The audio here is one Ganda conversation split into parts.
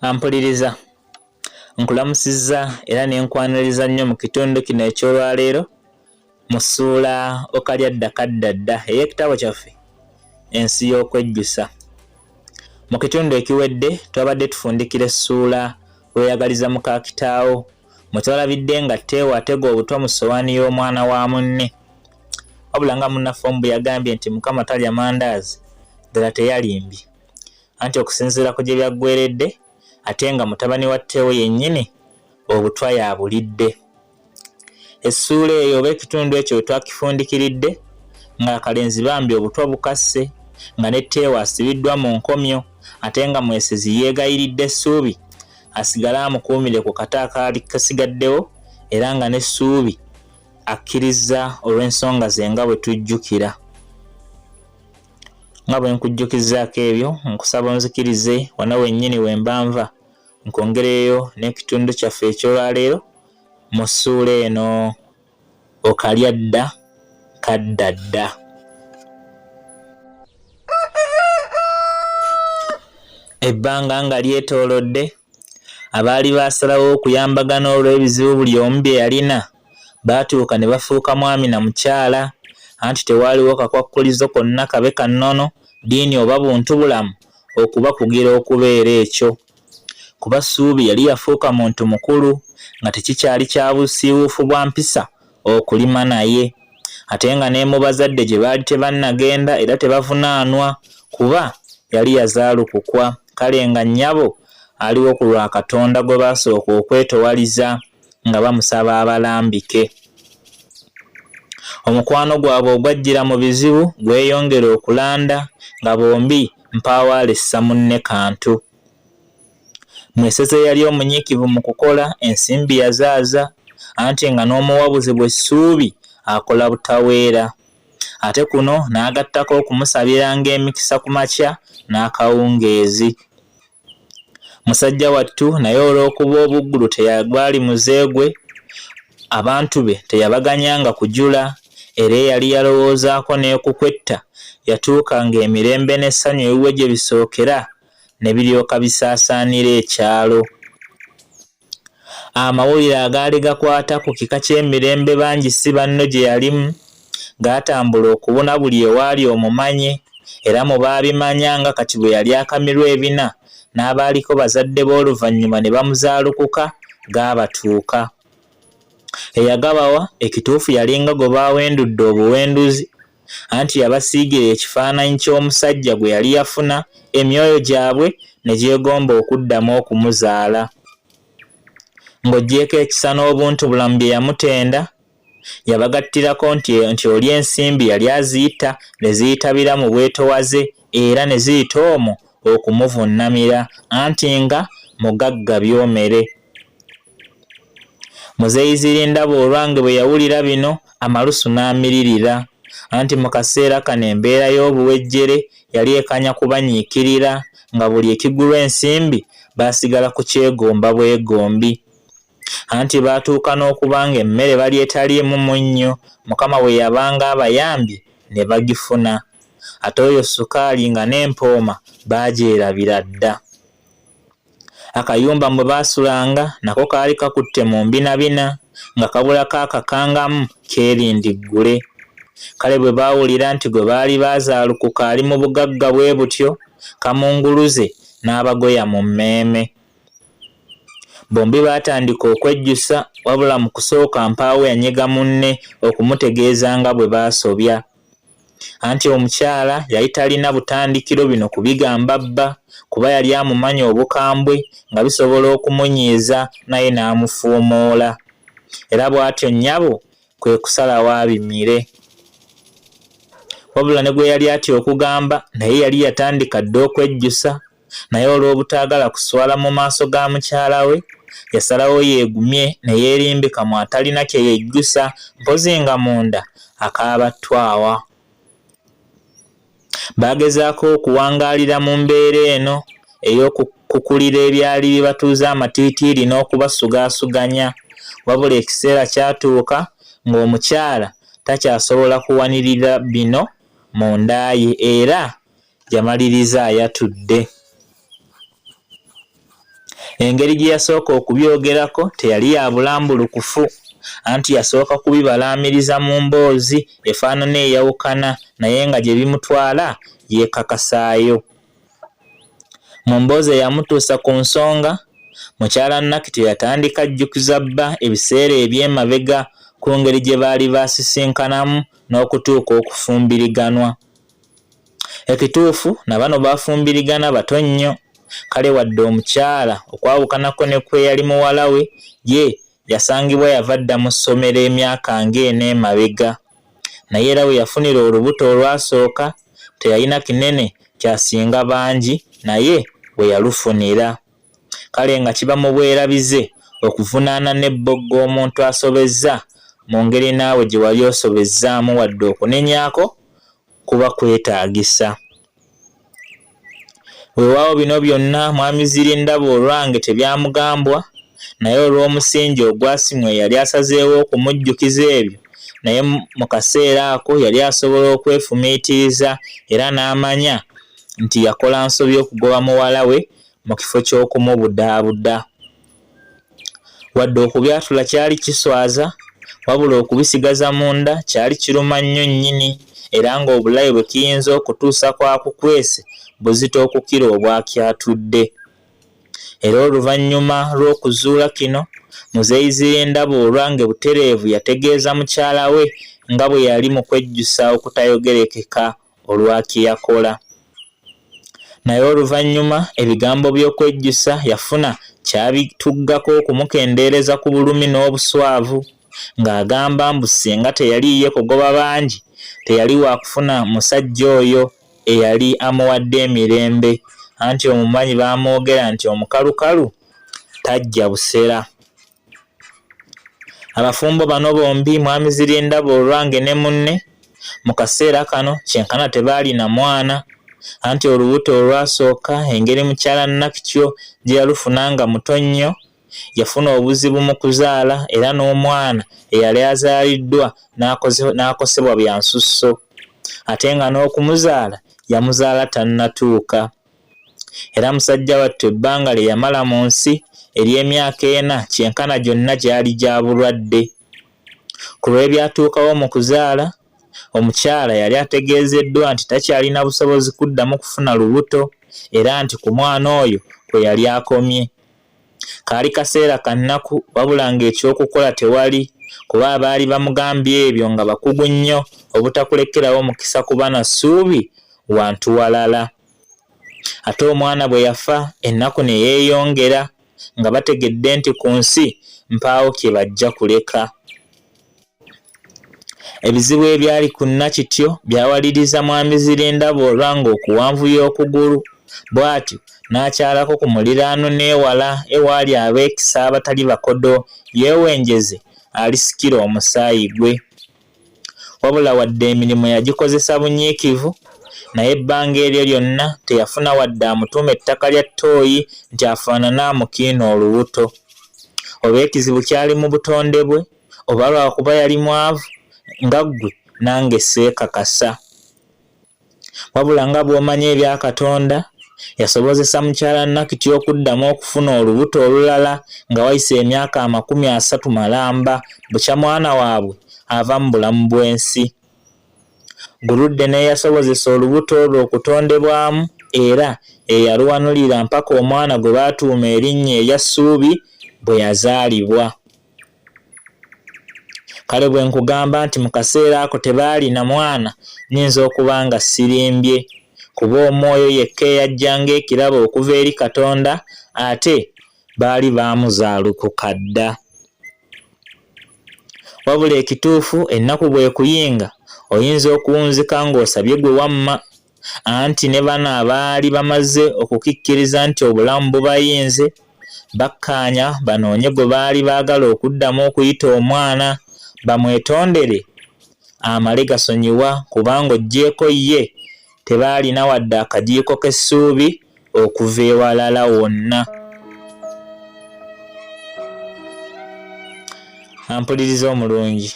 ampuliriza nkulamusizza era ne nkwaniriza nnyo mu kitundu kino eky'olwaleero mu ssuula okalyadda kaddadda ey'ekitabo kyaffe ensi y'okwejjusa mu kitundu ekiwedde twabadde tufundikira essuula weyagaliza muka kitaawo mutwalabidde nga teewa atega obutwa mu ssowaani y'omwana wa munne wabula nga munnaffe omu bwe yagambye nti mukama talya mandaazi ddala teyalimbye anti okusinziira ku gye byaggweredde ate nga mutabani wa teewo yennyini obutwa yabulidde essuula eyo oba ekitundu ekyo we twakifundikiridde ng'akalenzi bambi obutwa bukasse nga ne teewo asibiddwa mu nkomyo ate nga mwesezi yeegayiridde essuubi asigale amukuumire ku kata akaali kasigaddewo era nga n'essuubi akkirizza olw'ensonga ze nga bwe tujjukira nga bwe nkujjukizaako ebyo nkusaba onzikirize wano wennyini we mbanva nkwongereyo n'ekitundu kyaffe eky'olwaleero mu ssuula eno okalya dda kadda dda ebbanga nga lyetoolodde abaali baasalawo okuyambagana olw'ebizibu buli omu bye yalina baatuuka ne bafuuka mwami na mukyala anti tewaaliwo kakwakkulizo konna kabe ka nnono ddiini oba buntu bulamu okubakugira okubeera ekyo kuba Ssuubi yali yafuuka muntu mukulu nga tekikyali kya busiiwuufu bwa mpisa okulima naye ate nga ne mu bazadde gye baali tebannagenda era tebavunaanwa kuba yali yazaalukukwa kale nga nnyabo aliwo ku lwa Katonda gwe baasooka okwetowaliza nga bamusaba abalambike. Omukwano gwabwe ogwajjira mu bizibu gweyongera okulanda nga bombi mpaawo alissa munne kantu. Mweseza yali omunyiikivu mu kukola, ensimbi yazaaza anti nga n'omuwabuzi bwe Ssuubi akola butaweera. Ate kuno n'agattako okumusabiranga emikisa ku makya n'akawungeezi. musajja wattu naye olw'okuba obuggulu teyagwali muze gwe abantu be teyabaganyanga kujula era eyali yalowoozaako n'ekukwetta yatuuka ng'emirembe n'essanyu ewuwe gye bisookera ne biryoka bisaasaanira ekyalo Amawulire agaali gakwata ku kika ky'emirembe bangi si banno gye yalimu gaatambula okubuna buli ewaali omumanyi era mu baabimanya nga kati bwe yali akamirwa ebina n'abaaliko bazadde be oluvannyuma ne bamuzaalukuka gaabatuuka. Eyagabawa ekituufu yalinga gwe baawendudde obuwenduzi. anti yabasiigira ekifaananyi ky'omusajja gwe yali yafuna, emyoyo gyabwe ne gyegomba okuddamu okumuzaala. Ng'oggyeeko ekisa n'obuntubulamu bye yamutenda, yabagattirako nti nti oli ensimbi yali aziyita ne ziyitabira mu bwetowaze era ne ziyita omwo okumuvunnamira anti nga mugagga byomere. Muzeeyi Zirindaba Olwange bwe yawulira bino amalusu n'amiririra anti mu kaseera kano embeera y'obuwejjere yali ekanya kubanyiikirira nga buli ekigulwa ensimbi baasigala kukyegomba bwegombi anti baatuuka n'okuba ng'emmere bali etaliimu munnyo Mukama bwe yabanga abayambye ne bagifuna ate oyo ssukaali nga n'empooma baagyerabira dda. Akayumba mwe baasulanga nako kaali kakutte mu mbinabina nga kabulako akakangamu keerindi ggule. Kale bwe baawulira nti gwe baali baazaalukuka ali mu bugagga bwe butyo, kamunguluze n'abagoya mu mmeeme. Bombi baatandika okwejjusa wabula mu kusooka mpaawo yanyiga munne okumutegeeza nga bwe baasobya. anti omukyala yali talina butandikiro bino kubigamba bba kuba yali amumanyi obukambwe nga bisobola okumunyiiza naye n'amufuumoola era bw'atyo nnyabo kwe kusalawo abimire wabula ne gwe yali atya okugamba naye yali yatandika dda okwejjusa naye olw'obutaagala kuswala mu maaso ga mukyala we, yasalawo yeegumye ne yeerimbika mu atalina kye yejjusa mpozzi nga munda akaaba ttwawa. Baagezaako okuwangaalira mu mbeera eno ey'okukukulira ebyali bibatuuza amatiitiiri n'okubasugaasuganya wabula ekiseera kyatuuka ng'omukyala takyasobola kuwanirira bino munda ye era yamaliriza ayatudde. Engeri gye yasooka okubyogerako teyali ya bulambulukufu, anti yasooka kubibalaamiriza mu mboozi efaanana eyawukana naye nga gye bimutwala yeekakasaayo. Mu mboozi eyamutuusa ku nsonga, mukyala Nakito yatandika ajjukiza bba ebiseera eby'emabega ku ngeri gye baali baasisinkanamu n'okutuuka okufumbiriganwa. Ekituufu na bano baafumbirigana bato nnyo, kale wadde omukyala okwawukanako ne kw'eyali muwala we, ye yasangibwa yava dda mu ssomero emyaka ng'ena emabega. Naye era we yafunira olubuto olwasooka teyalina kinene ky'asinga bangi naye we yalufunira. kale nga kiba mu bwerabize okuvunaana n'ebboggo omuntu asobezza mu ngeri naawe gye wali osobezzaamu wadde okunenyako kuba kwetaagisa. Weewaawo bino byonna Mwami Zirindaba olwange tebyamugambwa naye olw'omusingi ogwasimwa eyali asazeewo okumujjukiza ebyo naye mu kaseera ako yali asobola okwefumiitiriza era n'amanya nti yakola nsobi okugoba muwala we mu kifo ky'okumubudaabuda. Wadde okubyatula kyali kiswaza, wabula okubisigaza munda kyali kiruma nnyo nnyini era ng'obulabe bwe kiyinza okutuusa kwakukwese buzito okukira obwakyatudde. Era oluvannyuma lw'okuzuula kino, Muzeeyi Zirindabuulwa nge butereevu yategeeza mukyala we nga bwe yali mu kwejjusa okutayogerekeka. olwa kye yakola. Naye oluvannyuma ebigambo by'okwejjusa yafuna kyabituggako okumukendeereza ku bulumi n'obuswavu ng'agamba mbu singa teyali ye kugoba bangi teyali waakufuna musajja oyo eyali amuwadde emirembe anti omumanyi baamwogera nti omukalukalu tajja busera. Abafumbo bano bombi mwami Zirindaba olwange ne munne mu kaseera kano kyenkana tebaalina mwana anti olubuto olwasooka engeri mukyala Nakityo gye yalufuna nga muto nnyo yafuna obuzibu mu kuzaala era n'omwana eyali azaaliddwa n'akosebwa bya nsusso ate nga n'okumuzaala yamuzaala tannatuuka. Era musajja wattu ebbanga lye yamala mu nsi ery'emyaka ena kyenkana gyonna gyali gya bulwadde. Ku lw'ebyatuukawo mu kuzaala, omukyala yali ategeezeddwa nti takyalina busobozi kuddamu kufuna lubuto era nti ku mwana oyo kwe yali akomye. Kaali kaseera ka nnaku wabula ng'ekyokukola tewali kuba abaali bamugambye ebyo nga bakugu nnyo obutakulekerawo mukisa kuba na ssuubi wantu walala. Ate omwana bwe yafa ennaku ne yeeyongera nga bategedde nti ku nsi mpaawo kye bajja kuleka. Ebizibu ebyali ku Nakityo byawaliriza Mwami Zirindaba olwanga okuwanvuya okugulu bw'atyo n'akyalako ku muliraano n'ewala ewaali abeekisa abatali bakodo yeewenjeze alisikire omusaayi gwe. Wabula wadde emirimu yagikozesa bunyiikivu, naye ebbanga eryo lyonna teyafuna wadde amutuuma ettaka lya ttooyi nti afaanane amukiina olubuto. Oba ekizibu kyali mu butonde bwe? oba lwakuba yali mwavu nga ggwe nange seekakasa wabula nga bw'omanyi ebya katonda yasobozesa mukyala nakiti okuddamu okufuna olubuto olulala nga wayise emyaka amakumi asatu malamba bukya mwana waabwe ava mu bulamu bw'ensi guludde n'eyasobozesa olubuto olwo okutondebwamu era eyaluwanulira mpaka omwana gwe baatuuma erinnya erya ssuubi bwe yazaalibwa kale bwe nkugamba nti mu kaseera ako tebaalina mwana nnyinza okuba nga sirimbye kuba omwoyo yekka eyajja ng'ekirabo okuva eri katonda ate baali baamuzaalukuka dda wabula ekituufu ennaku bw'ekuyinga oyinza okuwunzika ng'osabye gwe wamma anti ne bano abaali bamaze okukikkiriza nti obulamu bubayinze bakkaanya banoonye gwe baali baagala okuddamu okuyita omwana bamwetondere amale gasonyiwa kubanga oggyeeko ye tebaalina wadde akajiiko k'essuubi okuva ewalala wonna ampuliriza omulungi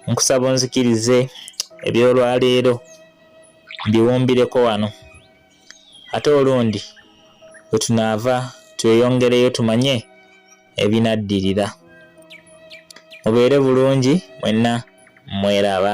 nkusaba onzikirize ebyolwaleero mbiwumbireko wano ate olundi wetunaava tweyongereyo tumanye ebinaddirira mubeere bulungi mwenna mweraba